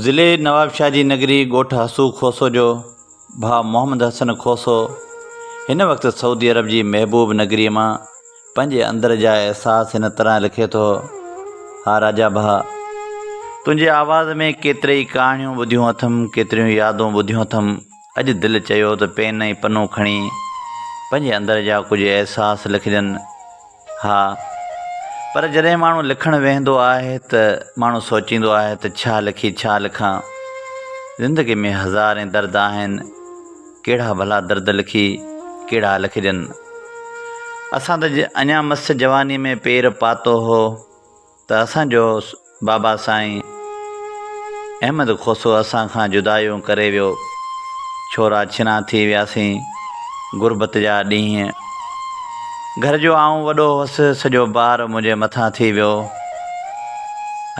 ضلعي نوابشاهه جي نگري ڳوٺ حسو کوسو جو ڀاء محمد حسن کوسو هن وقت سعودي عرب جي محبوب نگريء مان پنهنجي اندر جا احساس هن طرح لکي ٿو، ها راجا ڀاء! تنهنجي آواز ۾ ڪيتريئي ڪهاڻيون ٻڌيون اٿم، ڪيتريون يادون ٻڌيون اٿم، اڄ دل چيو ته پين ۽ پنو کڻي پنهنجي اندر جا ڪجهه احساس لکجن. ها پر جڏهن ماڻهو لکڻ ويهندو آهي ته ماڻهو سوچيندو آهي ته ڇا لکي ڇا لکان زندگي ۾ هزارين درد آهن ڪهڙا ڀلا درد لکي ڪهڙا لکجن اسان ته اڃا مس جواني ۾ پير پاتو هو ته اسان جو بابا سائين احمد کوسو اسان کان جدايون ڪري ويو، ڇورا ڇنا ٿي وياسين، غربت جا ڏينهن. گهر جو آئون وڏو هوس، سڄو بار منهنجي مٿان ٿي ويو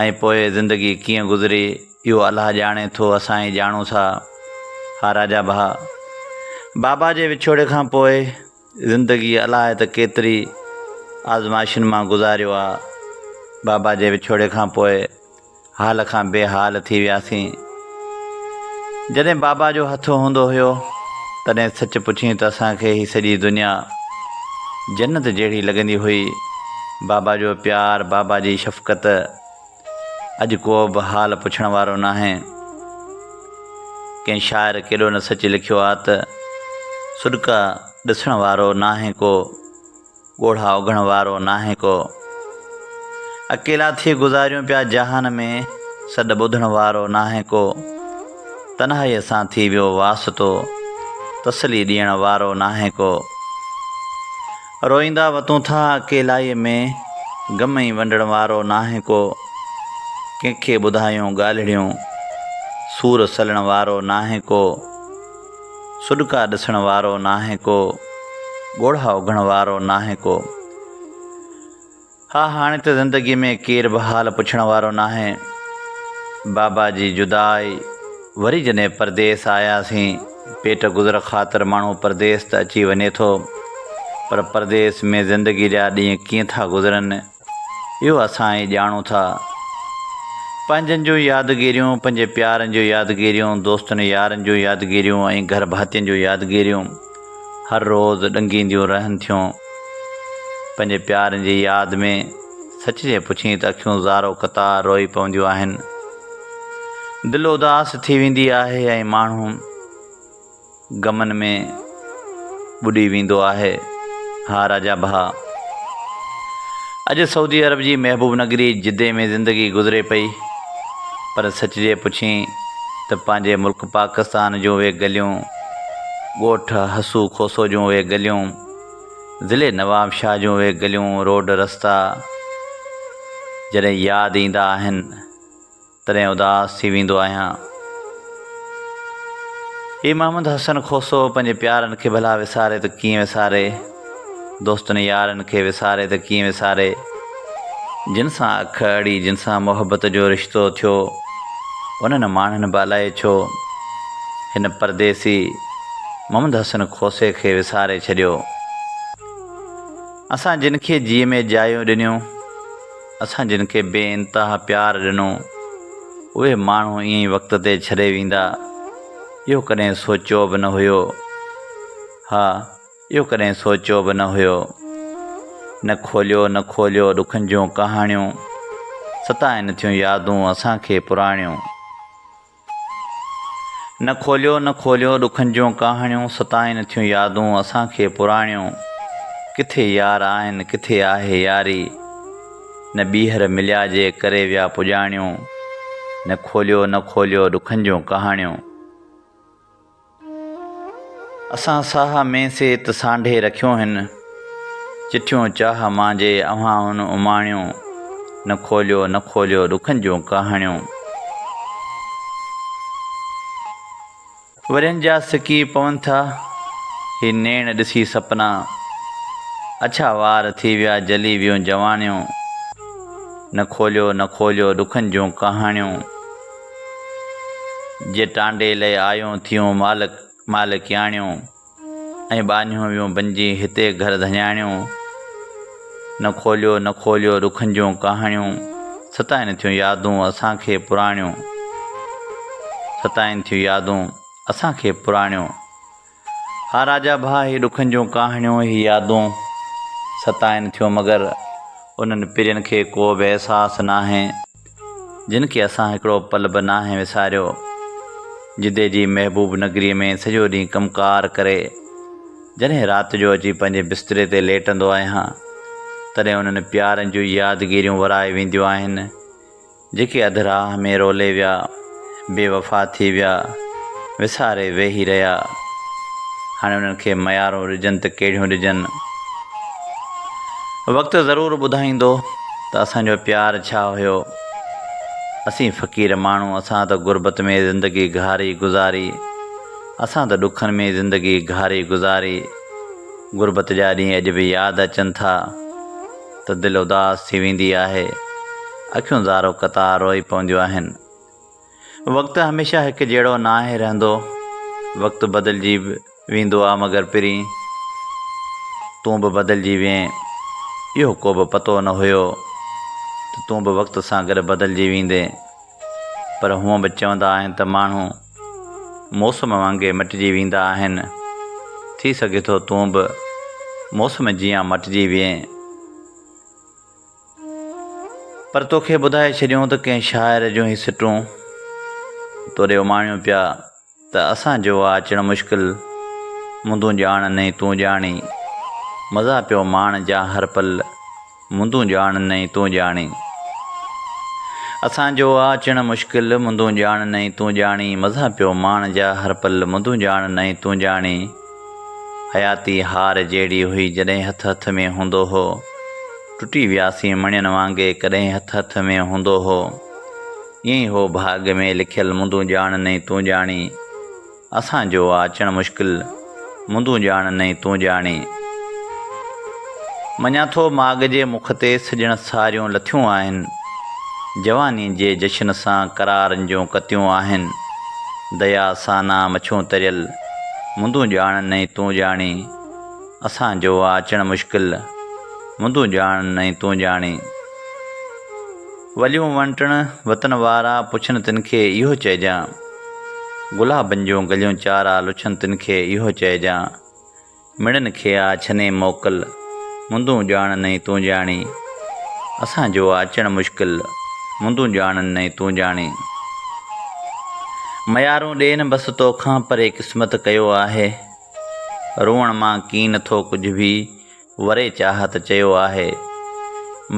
۽ پوء زندگي ڪيئن گذري اهو الله ڄاڻي ٿو اسان ئي ڄاڻون ٿا. ها راجا ڀاء، بابا جي وڇوڙي کان پوء. زندگي الائي ته ڪيتري آزمائشن مان گذاريو آ بابا جي وڇوڙي کان پوء حال کان بي حال ٿي وياسين جڏهن بابا جو هٿ هوندو هيو تڏهن سچ پڇين ته اسان کي هي سڄي دنيا جنت جهڙي لڳندي هئي بابا جو پيار بابا جي شفقت اڄ ڪو به حال پڇڻ وارو ناهي. ڪنهن شاعر ڪيڏو نه سچ لکيو آ ته، سڏڪا ڏسڻ وارو ناهي ڪو، ڳوڙها اگهڻ وارو ناهي ڪو. اڪيلا ٿي گذاريون پيا جهان ۾، سڏ ٻڌڻ وارو ناهي ڪو. تنهائيء سان ٿي ويو واسطو، تسلي ڏيڻ وارو ناهي ڪو. روئيندا وتون ٿا اڪيلائيء ۾، غم ۽ ونڊڻ وارو ناهي ڪو، ڪنهن کي ٻڌايون ڳالهڙيون، سور سلڻ وارو ناهي ڪو، سڏڪا ڏسڻ وارو ناهي ڪو، ڳوڙها اگهڻ وارو ناهي ڪو. ها هاڻي ته زندگي ۾ ڪير به حال پڇڻ وارو ناهي. بابا جي جدا آئي وري جڏهن پرديس آياسين. پيٽ گذر خاطر ماڻهو پرديس ته اچي وڃي ٿو پر پرديس ۾ زندگي جا ڏينهن ڪيئن ٿا گذرن اهو اسان ئي ڄاڻون ٿا. پنهنجن جون يادگيريون، پنهنجي پيارن جون يادگيريون، دوستن يارن جون يادگيريون ۽ گهر ڀاتين جون يادگيريون. هر روز ڏنگينديون رهن ٿيون. پنهنجي پيارين جي ياد ۾ سچ جي پڇين ته اکيون زارو قطار روئي پونديون آهن. دل اداس ٿي ويندي آهي ۽ ماڻهو غمن ۾ ٻڏي ويندو آهي. ها راجا ڀاء! اڄ سعودي عرب جي محبوب نگري جدي ۾ زندگي گذري پئي پر سچ جي پڇين ته پنهنجي ملڪ پاڪستان جون اهي گليون ڳوٺ حسو کوسو جون اهي گليون، ضلعي نوابشاهه جون اهي گليون، روڊ رستا جڏهن ياد ايندا آهن، تڏهن اداس ٿي ويندو آهيان. هي محمد حسن کوسو پنهنجي پيارن کي ڀلا وساري ته ڪيئن وساري؟ دوستن يارن کي وساري ته ڪيئن وساري، جن سان اک اڙي، جن سان محبت جو رشتو ٿيو، انهن ماڻهن به الائي ڇو، هن پرديسي محمد حسن کوسي کي وساري ڇڏيو. اسان جن کي جيء ۾ جايون ڏنيون، اسان جن کي بي انتها پيار ڏنو، اهي ماڻهو ائين ئي وقت تي ڇڏي ويندا، اهو ڪڏهن سوچيو به نه هيو. ها! اهو ڪڏهن سوچيو به نه هيو. نه کوليو نه کوليو ڏکن جون ڪهاڻيون، ستائن ٿيون يادون اسان کي پراڻيون. نه کوليو نه کوليو ڏکن جون ڪهاڻيون، ستائن ٿيون يادون اسان کي پراڻيون. ڪٿي يار آهن ڪٿي آهي ياري، نه ٻيهر مليا جي ڪري ويا پڄاڻيون. نه کوليو نه کوليو ڏکن جون ڪهاڻيون. اسان ساهه ۾ سيت سانڍي رکيو هن، چٺيون چاهه مانجهي اوهان هن اماڻيون، نه کوليو نه کوليو ڏکن جون ڪهاڻيون. ورهين جا سڪي پون ٿا، هي نيڻ ڏسي سپنا، اڇا وار ٿي ويا جلي ويون جوانيون، نه کوليو نه کوليو ڏکن جون ڪهاڻيون. جي ٽانڊي لئي آيون ٿيون مالڪ مالڪياڻيون ۽ ٻانهيون ويون بنجي هتي گهر ڌڃاڻيون نه کوليو نه کوليو رخن جون ڪهاڻيون ستائن ٿيون يادون اسان کي پراڻيون ستائن ٿيون يادون اسان کي پراڻيون ها راجا ڀاء، هي ڏکن جون ڪهاڻيون، هي يادون ستائن ٿيون، مگر انهن پرين کي ڪو به احساس ناهي، جن کي اسان هڪڙو پل به ناهي وساريو. جدي جي محبوب نگريء ۾ سڄو ڏينهن ڪم ڪار ڪري، جڏهن رات جو اچي پنهنجي بستري تي ليٽندو آهيان، تڏهن انهن پيارن جون يادگيريون ورائي وينديون آهن. جيڪي اڌ راهه ۾ رولي ويا، بي وفا ٿي ويا، وساري ويهي رهيا، هاڻي انهن کي ميارون ڏجن ته ڪهڙيون ڏجن؟ وقت ضرور ٻڌائيندو ته اسان جو پيار ڇا هيو. اسين فقير ماڻهو، اسان ته غربت ۾ زندگي گهاري گذاري، اسان ته ڏکن ۾ زندگي گهاري گذاري. غربت جا ڏينهن اڄ به ياد اچن ٿا. ته دل اداس ٿي ويندي آهي، اکيون زارو قطار روئي پونديون آهن. وقت هميشه هڪ جهڙو ناهي رهندو، وقت بدلجي به ويندو آ مگر پرين تون به بدلجي وئين. اهو ڪوبه پتو نه هيو ته تون به وقت سان گڏ بدلجي ويندين. پر هونء به چوندا آهن ته ماڻهو. موسم وانگي مٽجي ويندا آهن. ٿي سگهي ٿو تون به موسم جيان مٽجي وئين. پر توکي ٻڌائي ڇڏيون ته ڪنهن شاعر جون هي سٽون توري اماڻيون پيا ته اسان جو آ اچڻ مشڪل مندون ڄاڻ نئين تون ڄاڻي مزا پيو ماڻ جا هر پل مندون ڄاڻ نئين تون ڄاڻي اسان جو آ اچڻ مشڪل مندون ڄاڻ نئين تون ڄاڻي مزا پيو ماڻ جا هر پل مندون ڄاڻ نئين تون ڄاڻي حياتي هار جهڙي هئي جڏهن هٿ هٿ ۾ هوندو هو ٽٽي وياسين مڻين وانگي ڪڏهن هٿ هٿ ۾ هوندو هو ائين هو ڀاڳ ۾ لکيل مندون ڄاڻ نئين تون ڄاڻي. اسان جو آ اچڻ مشڪل، مندون ڄاڻ نئين تون ڄاڻي. مڃان ٿو ماڳ جي مک تي سڄڻ ساريون لٿيون آهن، جواني جي جشن سان قرارن جون ڪتيون آهن، ديا سانا مڇون تريل، مندون ڄاڻ نئين تون ڄاڻي. اسان جو آ اچڻ مشڪل، مندون ڄاڻ نئين تون ڄاڻي. وليون ونٽڻ وطن وارا، پڇن تن کي اهو چئجان. گلابن جون گليون چارا، لڇن تن کي اهو چئجان. مڙن کي آ ڇني موڪل، مندون ڄاڻن ۽ تون ڄاڻي. اسان جو آ اچڻ مشڪل، مندون ڄاڻن ۽ تون ڄاڻي. ميارون ڏين بس تو کان، پري قسمت ڪيو آهي. روئڻ مان ڪين ٿو ڪجهه به. وري چاهت چيو آهي،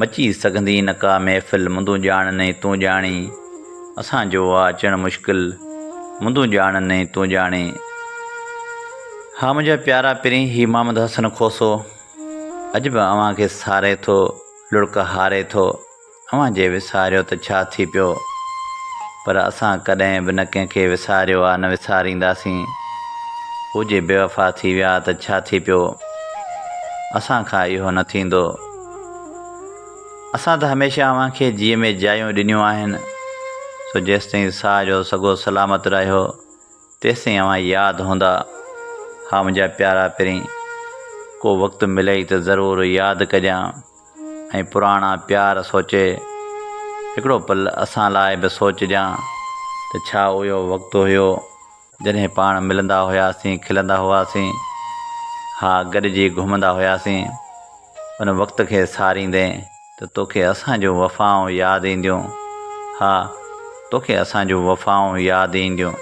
مچي سگهندي نه ڪا محفل مندون ڄاڻ نئين تون ڄاڻي، اسان جو آ اچڻ مشڪل مندون ڄاڻ نئين تون ڄاڻي. ها منهنجا پيارا پرين هي محمد حسن کوسو اڄ به اوهان کي ساري ٿو لڙڪ هاري ٿو. اوهان جي وساريو ته ڇا ٿي پيو پر اسان ڪڏهن به نه ڪنهن کي وساريو آ نه وسارينداسين هو جي بيوفا ٿي ويا ته ڇا ٿي پيو اسان کان اهو نه ٿيندو اسان ته هميشه اوهان کي جيء ۾ جايون ڏنيون آهن سو جيستائين ساهه جو سگهو سلامت رهيو تيستائين اوهان ياد هوندا ها منهنجا پيارا پرين ڪو وقت ملئي ته ضرور ياد ڪجان ۽ پراڻا پيار سوچي هڪڙو پل اسان لاء به سوچجان ته ڇا اهو وقت هيو جڏهن پاڻ ملندا هياسين کلندا هئاسين ها گڏجي گهمندا هياسين ان وقت کي ساريندين ته توکي اسان جون وفائون ياد اينديون ها توکي اسان جون وفائون ياد اينديون.